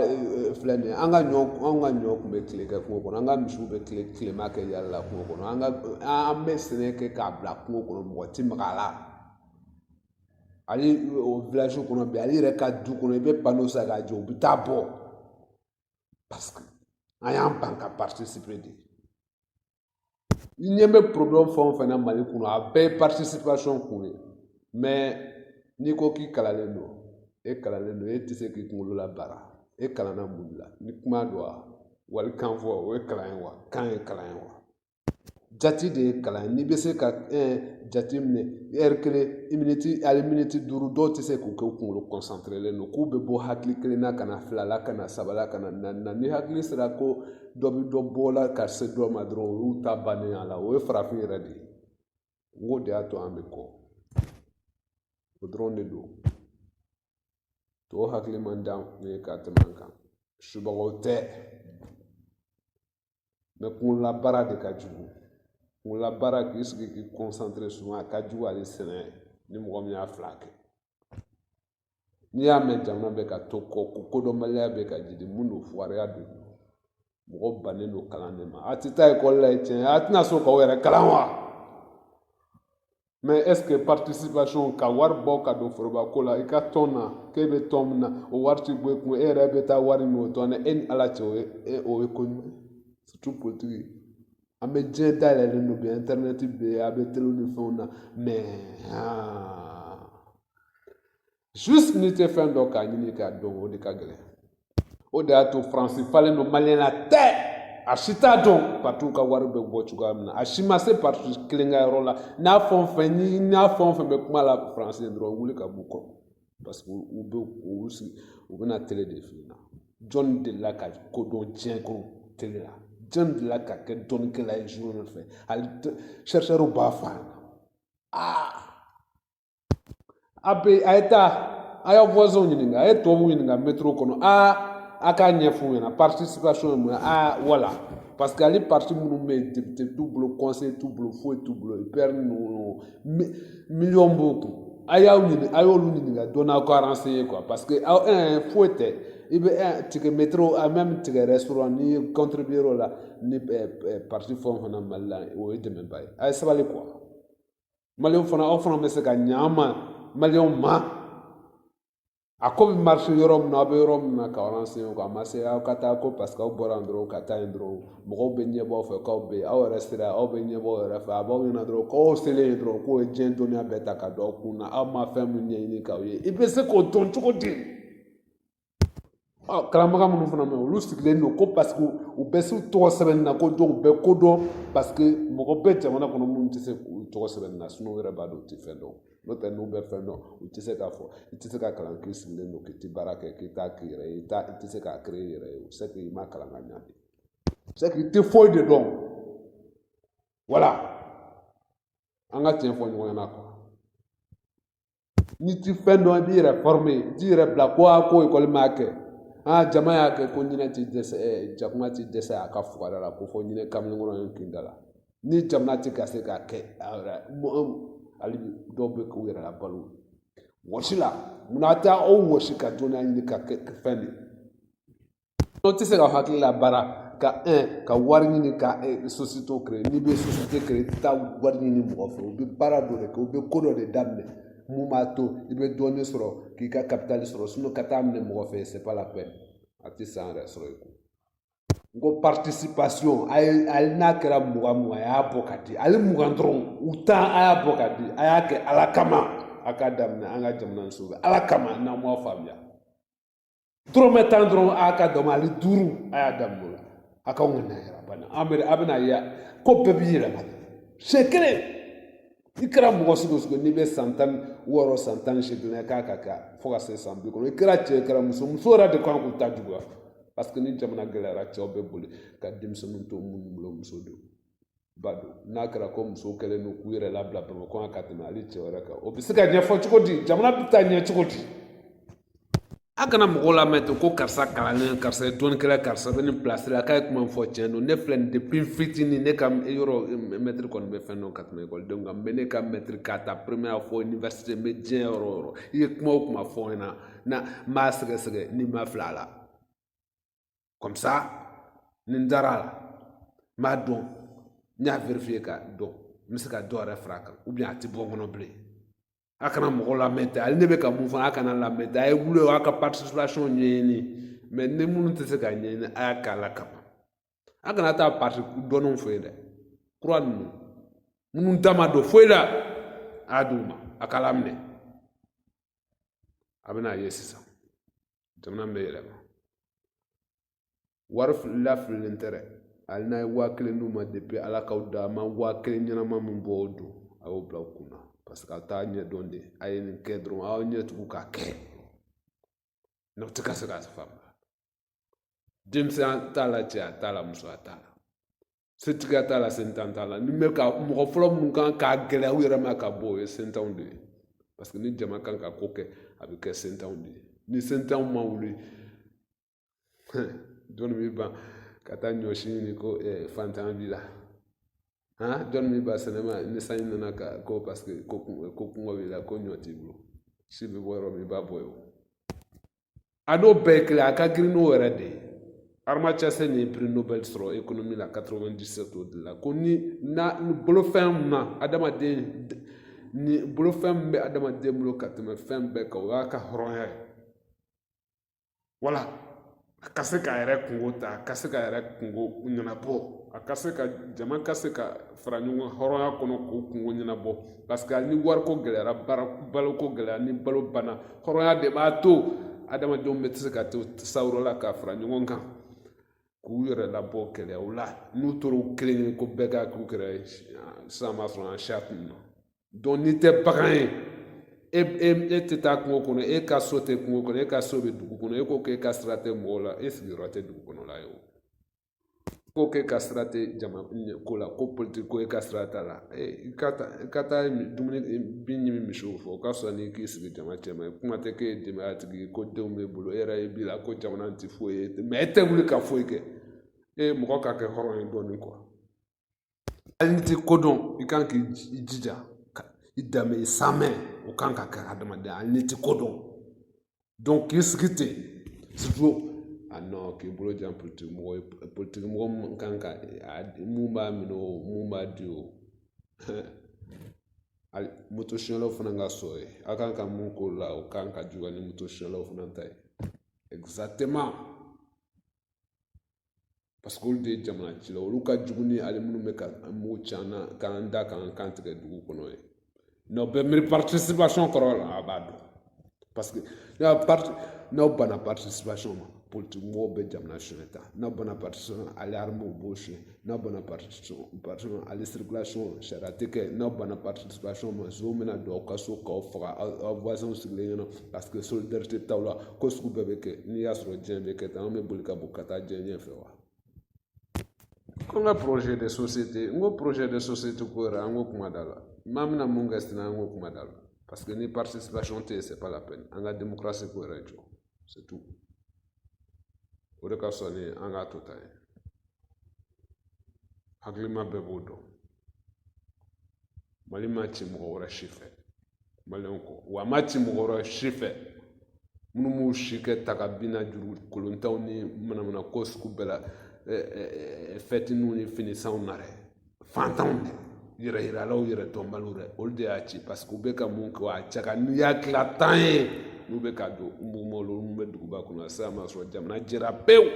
filɛ nin ye an ka ɲɔ anw ka ɲɔ kun bɛ tile kɛ kungo kɔnɔ an ka misiw bɛ tile tilema kɛ yala la kungo kɔnɔ an ka an bɛ sɛnɛ kɛ k'a bila kungo kɔnɔ mɔgɔ ti maga a la hali village kɔnɔ bi hali i yɛrɛ ka du kɔnɔ i bɛ pano san k'a jɔ u bɛ t'a bɔ parce que an y'an ban ka participer de i ɲɛ bɛ problème fɛn o fɛn na mali kɔnɔ a bɛɛ ye participation ko ye mais n'i ko k'i kalannen don e kalannen don e tɛ se k'i kunkolo labaara e kalanna mun de la ni kuma don wa walikan fɔ o ye kalan ye wa kan ye kalan ye wa jate de ye kalan ye n'i bɛ se ka jate minɛ ɛri kelen i miniti ali miniti duuru dɔw tɛ se k'u kɛ u kunkolo kɔnsanterelen don k'u bɛ bɔ hakili kelen na ka na fila la ka na saba la ka na naani na ni hakili sera ko dɔ bɛ dɔ bɔ la ka se dɔ ma dɔrɔn o y'u ta bannen y'a la o ye farafin yɛrɛ de ye n k'o de y'a to an bɛ kɔ o dɔrɔn de don tɔw hakili man di an ye ka tɛmɛ an kan subagaw tɛ mɛ kunkololabaara de ka jugu kunkololabaara k'i sigi k'i kɔnsantere suvan a ka jugu hali sɛnɛ ni mɔgɔ min y'a fila kɛ n'i y'a mɛn jamana bɛ ka to kɔ ko kodɔnbaliya bɛ ka jidi mun don fugariya don mɔgɔ bannen don kalan de ma a tɛ taa ekɔli la ye tiɲɛ a tɛna sɔn k'aw yɛrɛ kalan wa mɛ ɛske participation ka wari bɔ ka don foroba ko la i ka tɔn na k'e bɛ tɔn min na o wari ti bɔ i kun e yɛrɛ bɛ taa wari minɛ o tɔn na e ni ala cɛ o ye e o ye ko ɲuman ye surtout politiki ye an bɛ diɲɛ dayɛlɛlen don bi internet bɛ yen a bɛ telew ni fɛnw na mɛ haa juste n'i tɛ fɛn dɔn k'a ɲini k'a dɔn o de ka gɛlɛn o de y'a to faransi falen don maliyɛn la tɛ a si t'a dɔn patiw ka wari bɛ bɔ cogoya min na a si ma se pati kelen ka yɔrɔ la n'a fɛn o fɛn ni n'a fɛn o fɛn bɛ kuma la faransi ye dɔrɔn wuli ka b'u kɔ parce que u bɛ u sigi u bɛna tele de f'i ɲɛna jɔnni delila ka ko dɔn diɲɛ kɔnɔ tele la jɔnni delila ka kɛ dɔnnikɛla ye zuwɛrɛ fɛ hali sɛrisɛriw b'a fɔ a ɲɛna aa a bɛ a ye taa a y'a voisinw ɲininka a ye tubabuw ɲininka métrow kɔnɔ aa a k'a ɲɛf'u ɲɛna participation ye mun ye aa wala parce que hali parti minnu bɛ yen député t'u bolo conseil t'u bolo foyi t'u bolo UPR ninnu miliyɔn b'u kun a y'aw ɲini a y'olu ɲininka dɔɔnin aw ka renseigner quoi parce que aw ɛɛ foyi tɛ i bɛ ɛɛ ticket métro a même ticket restaurant n'i ye contribuer o la ni parti fɛn o fɛn na Mali la o ye dɛmɛba ye a ye sabali quoi. maliyɛnw fana aw fana bɛ se ka ɲa ma maliyɛnw ma a ko bɛ marcher yɔrɔ min na aw bɛ yɔrɔ min na ka avancer a ma se aw ka taa ko parce que aw bɔra yan dɔrɔn ka taa yen dɔrɔn mɔgɔw bɛ ɲɛbɔ aw fɛ k'aw bɛ aw yɛrɛ sera aw bɛ ɲɛbɔ aw yɛrɛ fɛ a b'aw ɲɛna dɔrɔn k'aw selen yen dɔrɔn k'u ye diɲɛ dɔnniya bɛɛ ta ka don aw kun na aw ma fɛn min ɲɛɲini k'aw ye i bɛ se k'o dɔn cogo di kalanbaga minnu fana bɛ yen olu sigilen don ko paseke u bɛ se tɔgɔ sɛbɛnni na k'olu bɛ ko dɔn paseke mɔgɔ bɛ jamana kɔnɔ minnu tɛ se k'u tɔgɔ sɛbɛnni na sinɔ u yɛrɛ b'a dɔn u tɛ fɛn dɔn n'o tɛ n'u bɛ fɛn dɔn u tɛ se k'a fɔ i tɛ se ka kalan k'i sigilen don k'i tɛ baara kɛ k'i t'a k'i yɛrɛ ye i t'a i tɛ se k'a kere i yɛrɛ ye o se k'i ma kalan ka ɲa de se k'i tɛ foyi de dɔn wala an ka tiɲɛ fɔ ɲɔgɔn ɲɛna kuwa n'i ti fɛn dɔn i b'i yɛrɛ fɔrime i t'i yɛrɛ bila ko a ko ekɔli m'a kɛ aa jama y'a kɛ ko ɲinɛ ti dɛsɛ jakuma ti dɛsɛ a ka fugada la ko fɔ ɲinɛ kamalenkɔrɔ ye kin da la ni jamana ti ka se k'a kɛ a yɛrɛ hali dɔw bɛ k'u yɛrɛ labalo wɔsi la munna a tɛ aw wɔsi ka dɔnniya ɲini ka kɛ fɛn de Dɔ tɛ se ka hakilila baara kɛ ka wari ɲini ka sosiyete kɛ n'i bɛ sosiyete kɛ i bɛ taa wari ɲini mɔgɔ fɛ u bɛ baara dɔ de kɛ u bɛ ko dɔ de daminɛ min b'a to i bɛ dɔɔnin sɔrɔ k'i ka kapitali sɔrɔ ka taa minɛ mɔgɔ fɛ sɛbɛn la fɛ a tɛ san yɛrɛ sɔrɔ i kun n ko paritisipasiyɔn a ye hali n'a kɛra mugan mugan a y'a bɔ ka di hali mugan dɔrɔn u tan a y'a bɔ ka di a y'a kɛ ala kama a k'a daminɛ an ka jamana jɔ ala kama n'an m'a faamuya dɔrɔmɛ tan dɔrɔn a ka dɔgɔn hali duuru a y'a daminɛ o la a k'aw ka na yɛrɛ bana an bɛ a bɛna ye ko bɛɛ b'i yɛlɛma siɲɛ kelen i kɛra mɔgɔ sugu sugu n'i bɛ san tan wɔɔrɔ san tan ni seegin na k'a ka kɛ fo ka se san bi kɔnɔntɔn i kɛra cɛ i kɛra muso muso yɛrɛ de ka kan k'u ta juguya parce que ni jamana gɛlɛyara cɛw bɛ boli ka denmisɛnninw to minnu bolo muso don ba don n'a kɛra ko musow kɛlen don k'u yɛrɛ labila bamakɔ yan ka tɛmɛ hali cɛw yɛrɛ kan o bɛ se ka ɲɛfɔ cogo di jamana bɛ taa ɲɛ cogo di a kana mɔgɔw lamɛn ten ko karisa kalannen karisa ye dɔnnikɛla karisa bɛ nin pilasi la k'a ye kuma fɔ tiɲɛ don ne filɛ nin depuis fitinin ne ka yɔrɔ mɛtiri kɔni bɛ fɛn dɔn ka tɛmɛ ekɔlidenw kan mɛ ne ka mɛtiri k'a ta première fɔ université n bɛ diɲɛ yɔrɔ o yɔrɔ i ye kuma o kuma fɔ n ɲɛna na n b'a sɛgɛsɛgɛ ni n ma fila a la comme ça ni n dara a la n b'a dɔn n y'a vérifier k'a dɔn n bɛ se ka dɔ yɛrɛ fara a kan ou bien a tɛ bɔ n kɔnɔ bilen a kana mɔgɔ lamɛn ten hali ne bɛ ka min fɔ a kana a lamɛn ten a ye wuli o y'a ka participation ɲɛɲini mais ni minnu tɛ se ka ɲɛɲini a y'a kɛ ala kama a kana taa parti dɔnnenw fɛ yen dɛ kura ninnu minnu da ma don foyi la a y'a d'u ma a k'a laminɛ a bɛna a ye sisan jamana bɛ yɛlɛma wari filila fililen tɛ dɛ hali n'a ye waa kelen d'u ma depuis ala k'aw da a ma waa kelen ɲɛnama min bɔ o don a y'o bila aw kun na parce que a t'a ɲɛ dɔn de a ye nin kɛ dɔrɔn aw ɲɛ tugu k'a kɛ n'a tɛ ka se k'a faamuya denmisɛnya t'a la cɛya t'a la musoya t'a la setigiya t'a la sentan t'a la ni bɛ ka mɔgɔ fɔlɔ minnu kan k'a gɛlɛya u yɛrɛ ma ka bɔ o ye sentanw de ye parce que ni jama kan ka ko kɛ a bɛ kɛ sentanw de ye ni sentanw ma wuli jɔni b'i ban ka taa ɲɔsi ɲini ko eh, fantanya b'i la han jɔni b'i ban sɛnɛ ma ni sanji nana ka ko parce que ko kɔngɔ b'i la ko ɲɔ t'i bolo si bɛ bɔ yɔrɔ min i b'a bɔ yen o a n'o bɛɛ ye kelen a ka girin n'o yɛrɛ de ye Amartya Sen nin ye prix nobel sɔrɔ ekonomi la 97 o de la ko ni na bolofɛn min na adamaden ni bolofɛn min bɛ adamaden bolo ka tɛmɛ fɛn bɛɛ kan o y'a ka hɔrɔnya ye wala a ka se k'a yɛrɛ kungo ta a ka se k'a yɛrɛ kungo ɲɛnabɔ a ka se ka jama ka se ka fara ɲɔgɔn hɔrɔnya kɔnɔ k'u kungo ɲɛnabɔ parce que ni wariko gɛlɛyara baloko gɛlɛya ni balo bana hɔrɔnya de b'a to adamadenw bɛ se ka to sawura la ka fara ɲɔgɔn kan k'u yɛrɛ labɔ gɛlɛyaw la n'u tora u kelen ye ko bɛɛ ka k'u kɛrɛ sisan b'a sɔrɔ an siya tununna donc n'i tɛ bagan ye e e e tɛ taa kungo kɔnɔ e ka so tɛ kungo kɔnɔ e ka so bɛ dugu kɔnɔ e ko k'e ka sira tɛ mɔgɔw la e sigiyɔrɔ tɛ dugu kɔnɔ la ye o ko k'e ka sira tɛ jama ko la ko politiki ko e ka sira t'a la i ka taa i ka taa dumuni bin ɲimi misiw fɛ o ka fisa n'i k'i sigi jama cɛma ye kuma tɛ k'e ye denbaya tigi ye ko denw b'e bolo e yɛrɛ ye bi la ko jamana tɛ foyi ye mais e tɛ wuli ka foyi kɛ e mɔgɔ ka kɛ hɔrɔn ye dɔɔnin quoi hali n'i tɛ ko dɔn i kan k'i jija i danbe i sɛmɛ o kan ka kɛ adamaden ye hali n'i tɛ ko dɔn k'i sigi ten a nɔ k'i bolo jan politiki mɔgɔ ye politiki mɔgɔ min kan ka min b'a minɛ o min b'a di o hali moto sonyɛlaw fana ka sɔrɔ ye a kan ka mun k'o la o kan ka juguya ni moto sonyɛlaw fana ta ye paseke olu de ye jamana cilaw olu ka jugu ni ale minnu bɛ ka mugu ci an na k'an da k'an kan tigɛ dugu kɔnɔ ye n'aw bɛ miiri participation kɔrɔ la a b'a dɔn paseke n'aw parti n'aw banna participation ma politiki mɔgɔw bɛ jamana sonyɛ ta n'aw banna participation ale armew b'o sonyɛ n'a banna sariya tɛ kɛ n'a banna ma so min na don aw ka so k'aw faga aw sigilen ɲɛna paseke so tɛ taa la ko sugu bɛɛ bɛ kɛ n'i y'a sɔrɔ diɲɛ bɛ kɛ tan an bɛ boli ka bɔ ka taa diɲɛ ɲɛfɛ wa ko n ka projet de société n ko projet de société ko yɛrɛ an ko kuma da la maa bɛna mun kɛ sisan an ko kuma da la paseke ni tɛ yen c'est pas la peine an k'a ko yɛrɛ jɔ c'est tout o de ka fisa ni an k'a to tan ye hakilima bɛɛ b'o dɔn mali ma ci mɔgɔ wɛrɛ si fɛ maliyɛnw kɔ wa a ma ci mɔgɔ wɛrɛ si fɛ minnu b'u si kɛ taga bina juru kolontanw ni manamana ko sugu bɛɛ la fɛtininw ni finisanw na dɛ fantanw de yɛrɛ yiralaw yɛrɛ dɔnbaliw dɛ olu de y'a ci parce que u bɛ ka mun kɛ a cɛ ka n'u y'a tila tan ye n'u bɛ ka don mumolo n'u bɛ duguba kɔnɔ sisan ma sɔrɔ jamana jɛra pewu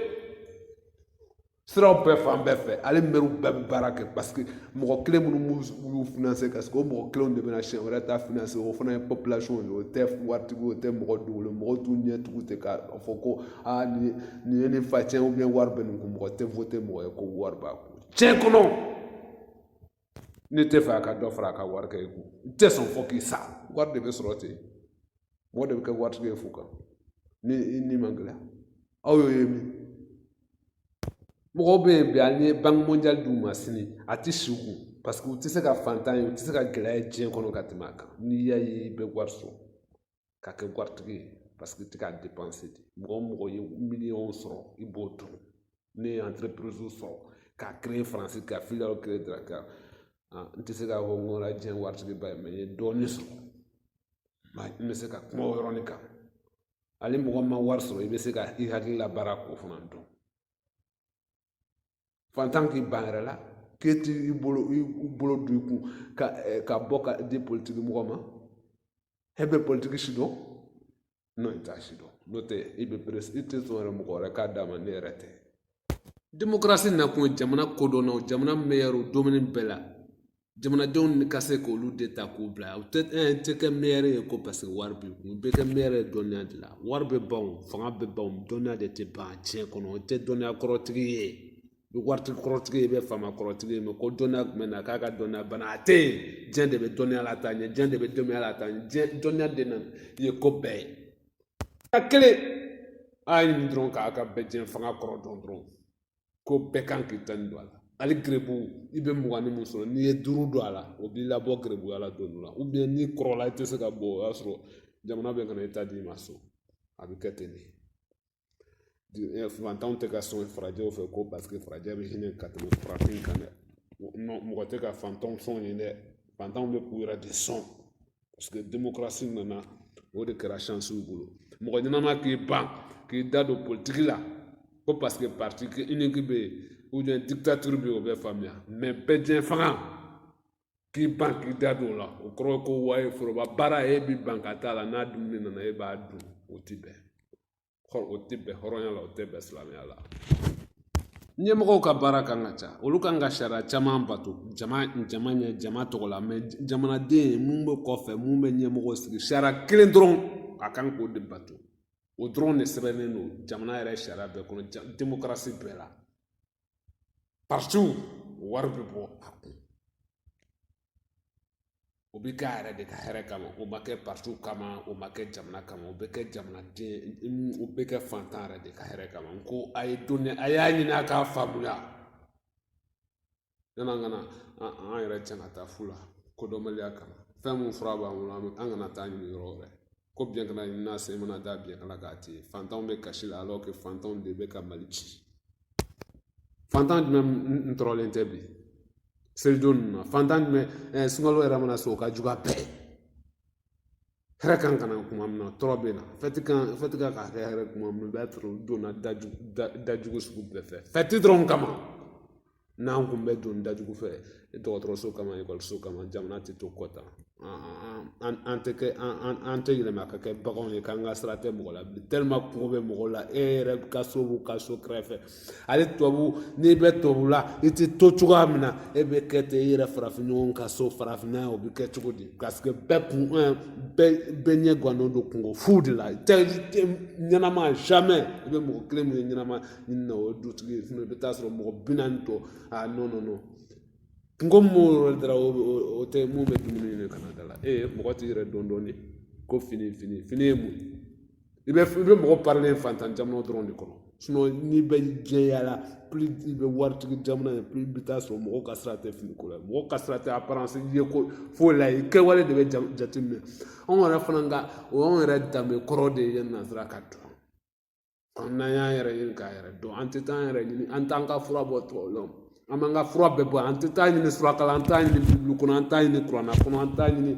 siraw bɛɛ fan bɛɛ fɛ ale mɛriw bɛɛ bɛ baara kɛ parce que mɔgɔ kelen minnu y'u finanse parce que o mɔgɔ kelenw de bɛna siɲɛ wɛrɛ ta finanse o fana ye population ye o tɛ waritigi o tɛ mɔgɔ dogolen mɔgɔ t'u ɲɛ tugu ten k'a fɔ ko aa nin ye nin ye nin facɛn wari bɛ nin kun mɔgɔ tɛ vote mɔgɔ ye ko wari b'a kun cɛ kɔnɔ ne t'a fɛ a ka dɔ fara a ka wari kɛ i kun n tɛ sɔn fɔ k'i sa wari de bɛ sɔrɔ ten mɔgɔ de bɛ kɛ waritigi ye fo kan ni i ni man gɛlɛya aw y'o ye min mɔgɔw bɛ yen bi an ye banque mondiale d'u ma sini a tɛ si u kun parce que u tɛ se ka fantan ye u tɛ se ka gɛlɛya ye diɲɛ kɔnɔ ka tɛmɛ a kan n'i y'a ye i bɛ wari sɔrɔ ka kɛ waritigi ye paseke i t'i ka depanse di mɔgɔ o mɔgɔ ye miliyɔn sɔrɔ i b'o dun ne ye anterepiriziw sɔrɔ k'a kere faransi ka filiyaliw kere dakar n tɛ se k'a fɔ n kɛra diɲɛ waritigiba ye mɛ n ye dɔɔnin sɔrɔ n bɛ se ka kuma o yɔrɔnin kan hali mɔgɔ ma wari sɔrɔ i bɛ se ka i hakili labaara k'o fana dɔn fantan k'i ban yɛrɛ la k'e t'i bolo i bolo don i kun ka eh, ka bɔ ka di politiki mɔgɔ ma e bɛ politiki sidɔn non i t'a sidɔn n'o tɛ i bɛ peresi i tɛ sɔn yɛrɛ mɔgɔ wɛrɛ k'a d'a ma n'e yɛrɛ tɛ demokarasi nakun ye jamana kodɔnnaw jamana meyɛriw domɛni bɛɛ la jamanadenw ni ka se k'olu de ta k'u bila u tɛ i tɛ kɛ mɛri ye ko paseke wari b'i kun i bɛ kɛ mɛri ye dɔnniya de la wari bɛ ban o fanga bɛ ban o dɔnniya de tɛ ban tiɲɛ kɔnɔ i tɛ dɔnniya kɔrɔtigi ye i bɛ waritigi kɔrɔtigi ye i bɛ faama kɔrɔtigi ye mɛ ko dɔnniya jumɛn na k'a ka dɔnniya bana a tɛ yen diɲɛ de bɛ dɔnniya lataa ɲɛ diɲɛ de bɛ dɔnniya lataa ɲɛ diɲɛ dɔnniya de na ye ko bɛɛ ye a kelen a ye nin dɔrɔn k'a ka bɛɛjɛfanga kɔrɔ dɔn dɔrɔn ko bɛɛ kan k'i tanin don a la hali gerebu i bɛ mugannin mun sɔrɔ n'i ye duuru don a la o b'i labɔ gerebuya la don dɔ la n'i kɔrɔla i tɛ se ka bɔ o y'a sɔrɔ jamana bɛ ka na i ta d'i ma so a bɛ kɛ ten de fantanw tɛ ka sɔn farajɛw fɛ ko paseke farajɛ bɛ hinɛ ka tɛmɛ farafin kan dɛ mɔgɔ tɛ ka fantanw sɔn yen dɛ fantanw bɛ k'u yɛrɛ de sɔn paseke demokarasi nana o de kɛra sansi u bolo mɔgɔ ɲɛnama k'i ban k'i da don politiki la ko paseke parti uniki bɛ yen ubiyɛn dikitatiri bɛ yen o bɛ faamuya mɛ bɛɛjɛfanga k'i ban k'i da don o la o kɔrɔ ye ko waye foroba baara e b'i ban ka t'a la n'a dumuni nana e b'a dun o ti bɛn o tɛ bɛn hɔrɔnya la o tɛ bɛn silamɛya la ɲɛmɔgɔw ka baara kan ka ca olu kan ka sariya caman bato jama jama ɲɛ jama tɔgɔ la mɛ jamanaden mun bɛ kɔfɛ mun bɛ ɲɛmɔgɔ sigi sariya kelen dɔrɔn a kan k'o de bato o dɔrɔn de sɛbɛnnen don jamana yɛrɛ sariya bɛɛ kɔnɔ demokarasi bɛɛ la partiw wari bɛ bɔ a kun o bɛ k'a yɛrɛ de ka hɛrɛ kama o ma kɛ partiw kama o ma kɛ jamana kama o bɛ kɛ jamanaden o bɛ kɛ fantan yɛrɛ de ka hɛrɛ kama n ko a ye dɔnni a y'a ɲini a k'a faamuya yann'an ka na an yɛrɛ cɛn ka taa fu la kodɔnbaliya kama fɛn mun fura b'an bolo an kana t'a ɲini yɔrɔ wɛrɛ ko biyɛn kana ɲin'a se mana da biyɛn kana k'a ci fantanw bɛ kasi la alɔ kɛ fantanw de bɛ ka mali ci fantan jumɛn tɔɔrɔlen tɛ bi selidon ninnu na fantan jumɛn ɛɛ sunkalo yɛrɛ mana se o ka jugu a bɛɛ hɛrɛ kan ka na kuma min na tɔɔrɔ bɛ na fɛti kan fɛti kan ka kɛ hɛrɛ kuma min na i b'a sɔrɔ u donna dajugu dajugu sugu bɛɛ fɛ fɛti dɔrɔn kama n'an kun bɛ don dajugu fɛ dɔgɔtɔrɔso kama ekɔliso kama jamana tɛ to kɔ tan an tɛ kɛ an tɛ yɛlɛma ka kɛ baganw ye k'an ka sira tɛ mɔgɔ la bi kɔngɔ bɛ mɔgɔ la e yɛrɛ ka so b'u ka so kɛrɛfɛ ale tubabu n'i bɛ tubabu la i tɛ to cogoya min na e bɛ kɛ ten i yɛrɛ farafin ɲɔgɔn ka so farafinna o bɛ kɛ cogo di paseke bɛɛ kun bɛɛ bɛɛ ɲɛ gannen don kunko fu de la ɲɛnama i bɛ mɔgɔ kelen min ye ɲɛnama ni na o dutigi ye i bɛ taa sɔrɔ mɔgɔ bi naani tɔ a nɔ nɔ nɔ kungo mun yɔrɔ dara o tɛ mun bɛ dumuni ɲini kana da la e ye mɔgɔ t'i yɛrɛ dɔn dɔɔnin ko fini fini fini ye mun i bɛ i bɛ mɔgɔ parilen fantan jamana dɔrɔn de kɔnɔ n'i bɛ jɛya la i bɛ waritigi jamana ye i bɛ taa sɔrɔ mɔgɔw ka sira tɛ fini ko la mɔgɔw ka sira tɛ aparansi ye ko foyi la yen kɛwale de bɛ jateminɛ anw yɛrɛ fana ka o y'anw yɛrɛ danbe kɔrɔ de ye n'an sera k'a dɔn n'an y'an yɛrɛ ɲini k'an yɛrɛ dɔn an tɛ taa an yɛrɛ ɲini an t'an ka fura bɔ tubabu la an b'an ka fura bɛɛ bɔ an tɛ taa ɲini suraka la an t'a ɲini bibulu kɔnɔ an t'a ɲini kuranɛ kɔnɔ an t'a ɲini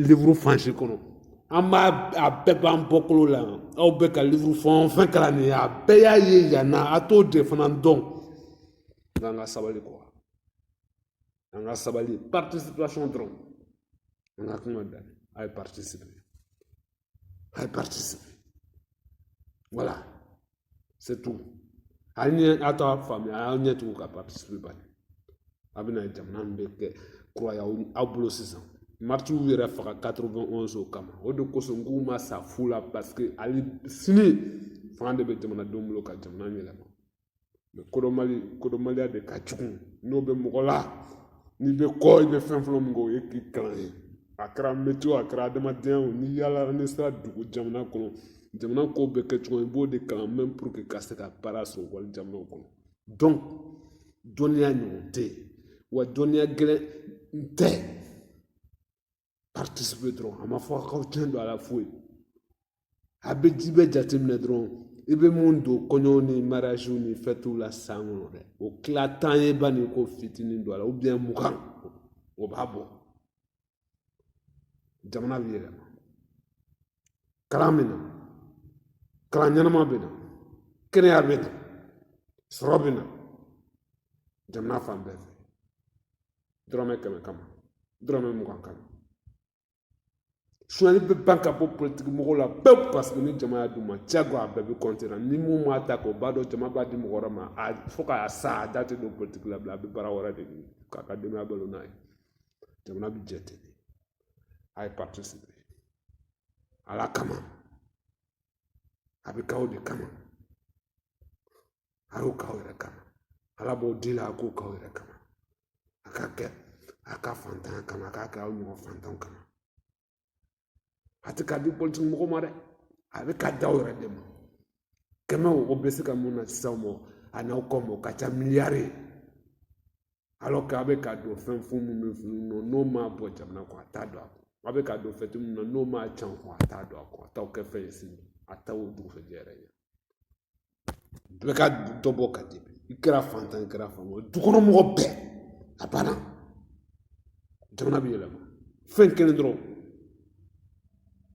livuru faransi kɔnɔ an b'a a bɛɛ b'an bɔkolo la yan aw bɛ ka livuru fɛn o fɛn kalan nin ye a bɛɛ y'a ye yan na a t'o de fana dɔn n k'an ka sabali kɔ an ka sabali participation dɔrɔn an ka kuma da a ye participer a ye participer voilà c'est tout hali ni a t'a faamuya a y'a ɲɛ tugu ka participer bani a bɛna jamana min bɛ kɛ kura ye aw bolo sisan maritiw yɛrɛ faga 91 o kama o de kosɔn n k'u ma sa fu la parce que hali sini fanga de bɛ jamanadenw bolo ka jamana yɛlɛma mɛ kodɔnbali kodɔnbaliya de ka jugu n'o bɛ mɔgɔ la n'i bɛ kɔ i bɛ fɛn fɔlɔ min kɛ o ye k'i kalan ye a kɛra mɛtiye o a kɛra adamadenya o n'i yaala n'i sera dugu jamana kɔnɔ jamana kow bɛ kɛ cogo i b'o de kalan mɛn pour que i ka se ka baara sɔrɔ wali jamanaw kɔnɔ donc dɔnniya ɲɔgɔn tɛ yen wa dɔnniya gɛlɛn tɛ paritisipe dɔrɔn a ma fɔ a k'aw tɛgɛ don a la foyi a bɛ ji bɛ jateminɛ dɔrɔn i bɛ mun don kɔɲɔw ni mariyaziw ni fɛtiw la san kɔnɔ dɛ o tila tan ye bani k'o fitinin don a la u biyɛn mugan o b'a bɔ jamana bɛ yɛlɛma kalan bɛ na kalan ɲɛnama bɛ na kɛnɛya bɛ na sɔrɔ bɛ na jamana fan bɛɛ fɛ dɔrɔmɛ kɛmɛ kama dɔrɔmɛ mugan kama sonyali bɛ ban ka bɔ politiki mɔgɔw la pewu paseke ni jama y'a d'u ma jago a bɛɛ bɛ kɔnte na ni mun m'a ta k'o b'a dɔn jama b'a di mɔgɔ wɛrɛ ma a fo k'a sa a da tɛ don politiki la bilen a bɛ baara wɛrɛ de ɲini k'a ka denbaya balo n'a ye jamana bɛ jɛ ten de a ye participer ala kama a b'a k'aw de kama a y'o k'aw yɛrɛ kama ala b'o di la a k'o k'aw yɛrɛ kama a k'a kɛ a ka fantanya kama a k'a kɛ aw ɲɔgɔn fantanw kama a tɛ k'a di politiki mɔgɔ ma dɛ a bɛ k'a d'aw yɛrɛ de ma kɛmɛ o bɛ se ka mun na sisan o ma a n'aw kɔ ma o ka ca miliyari ye alors k'a bɛ ka don fɛn fo minnu bɛ funu nɔ n'o ma bɔ jamana kɔnɔ a t'a don a kun a bɛ ka don fɛn minnu na n'o m'a can kɔnɔ a t'a don a kun a t'aw kɛ fɛn ye sini a t'aw dugusɛjɛ yɛrɛ ɲɛ bɛɛ ka dɔ bɔ ka di i kɛra fantan i kɛra fantan ye dukɔnɔmɔgɔ bɛɛ a banna jamana bɛ yɛlɛma fɛn kelen dɔrɔn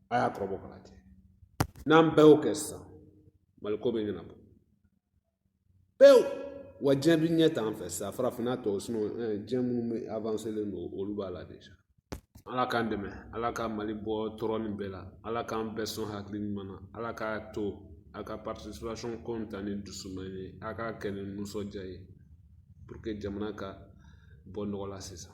a y'a kɔrɔbɔ k'a lajɛ n'an bɛɛ y'o kɛ sisan maliko bɛ ɲɛnabɔ pewu wa diɲɛ bi ɲɛ t'an fɛ sa farafinna tɔw sunɔgɔ diɲɛ minnu bɛ avanselen don olu b'a la déjà ala k'an dɛmɛ ala ka mali bɔ tɔɔrɔ nin bɛɛ la ala k'an bɛɛ sɔn hakili ɲuman na ala k'a to a ka participation ko in ta ni dusuma ye a k'a kɛ ni nisɔndiya ye pour que jamana ka bɔ nɔgɔ la sisan